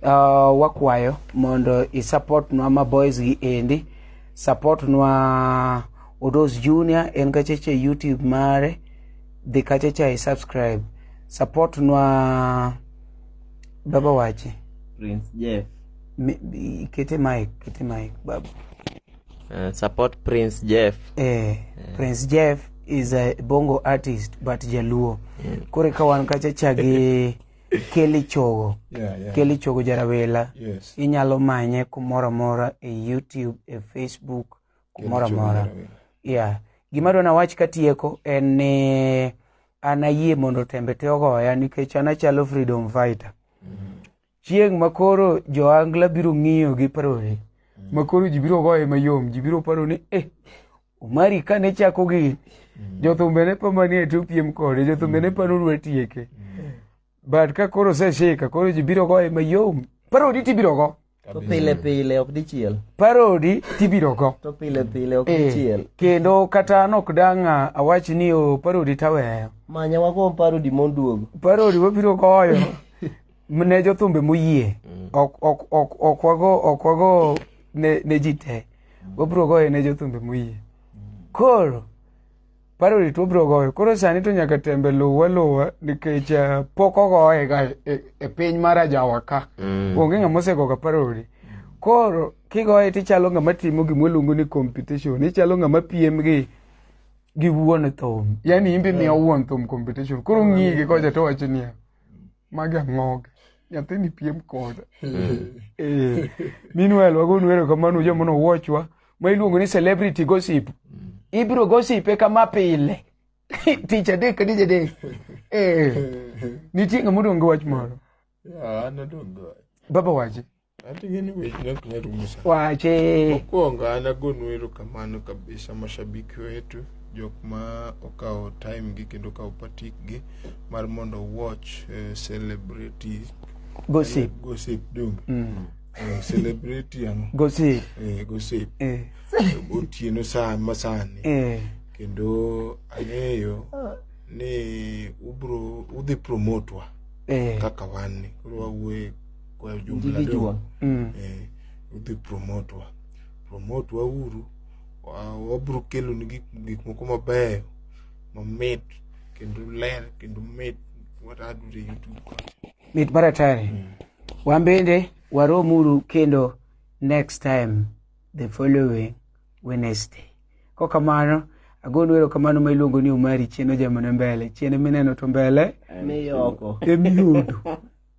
A: uh, wakwayo mondo isupportnwa ma boys gi endi support nwa Odos Junior en kacheche YouTube mare dhi kachecha i subscribe support nwa baba wache Prince Jeff
D: Mi- mi-
A: kete mic kete mic baba
D: uh, support Prince Jeff eh, Prince
A: Jeff is a bongo artist but jaluo kore ka wan kachecha gi Kelly Chogo. Yeah, yeah. Kelly Chogo Jarawela. Yes. Inyalo manye kumoro amora e YouTube, e Facebook, kumoro amora. Yeah. Gima dwa nawach katieko en ni an ayie mondo tembe te ogoya nikech an achalo freedom fighter. Mm-hmm. Chieng' ma koro joangla biro ng'iyo gi parore. Mm-hmm. Ma koro ji biro goye mayom, ji biro paro ni eh Omari ka ne chako gi jothumbe ne pa manie to piem kode jothumbe ne pa nodwa tieke but ka koro oseshika koro ji biro goye mayom parodi tibiro go to pile pile
C: ok dichiel parodi
A: tibiro go to pile pile ok Eh,
C: dichiel kendo kata an
A: ok dang' a- awach ni o parodi taweyo manya wago
C: parodi moduogo parodi wabiro
A: goyo ne jothumbe moyie mm. ok ok ok ok wago ok wago ne ne ji te mm. wabro goyo ne jothumbe moyie mm. koro paro rit wabro goyo koro sani to nyaka tembe luwa luwa nikech uh, pok ogoye ga e, e piny mar ajawa ka mm. onge ng'ama osego ga paro ri koro kigoye tichalo ng'ama timo gima waluongo ni competition ichalo ng'ama piem gi gi wuon thum yani imbe miyo wuon thum competition koro ng'igi kocha to wacho niya magi ang'oge nyathini piem koda Eh, meanwhile wagonu erokamano joma nowuochwa ma iluongo ni celebrity gossip ibiro gosipe kama pile tich adek ka tich adek Eh, nitie ng'ama odong' gi wach moro Yeah, an odong' gi wach. baba wache Hata gani wewe tunakunya rumu sana. Wache. Mokwongo an
B: agonu erokamano kabisa mashabiki wetu jok ma okawo time gi kendo okawo patik gi mar mondo watch eh, celebrity Gossip. gossip dum Mm. Eh, celebrity ano Gossip.
A: eh, gossip Eh.
B: otieno sa masani Eh. kendo ang'eyo ni ubro udhi promotwa Eh. kaka wan ni koro wawuoye kwa ujumla Individual. do, Mm. eh, udhi promote wa promote wa uru wa- wabiro kelo ni gik gik moko mabeyo mamit kendo ler kendo mit watadure youtube ka mit mar
A: atari wan bende waromuru kendo next time the following wednesday ko kamano agonu ero kamano ma iluongo ni umari chieno jamone mbele chiene mineno to mbele Ni oko. emiyudo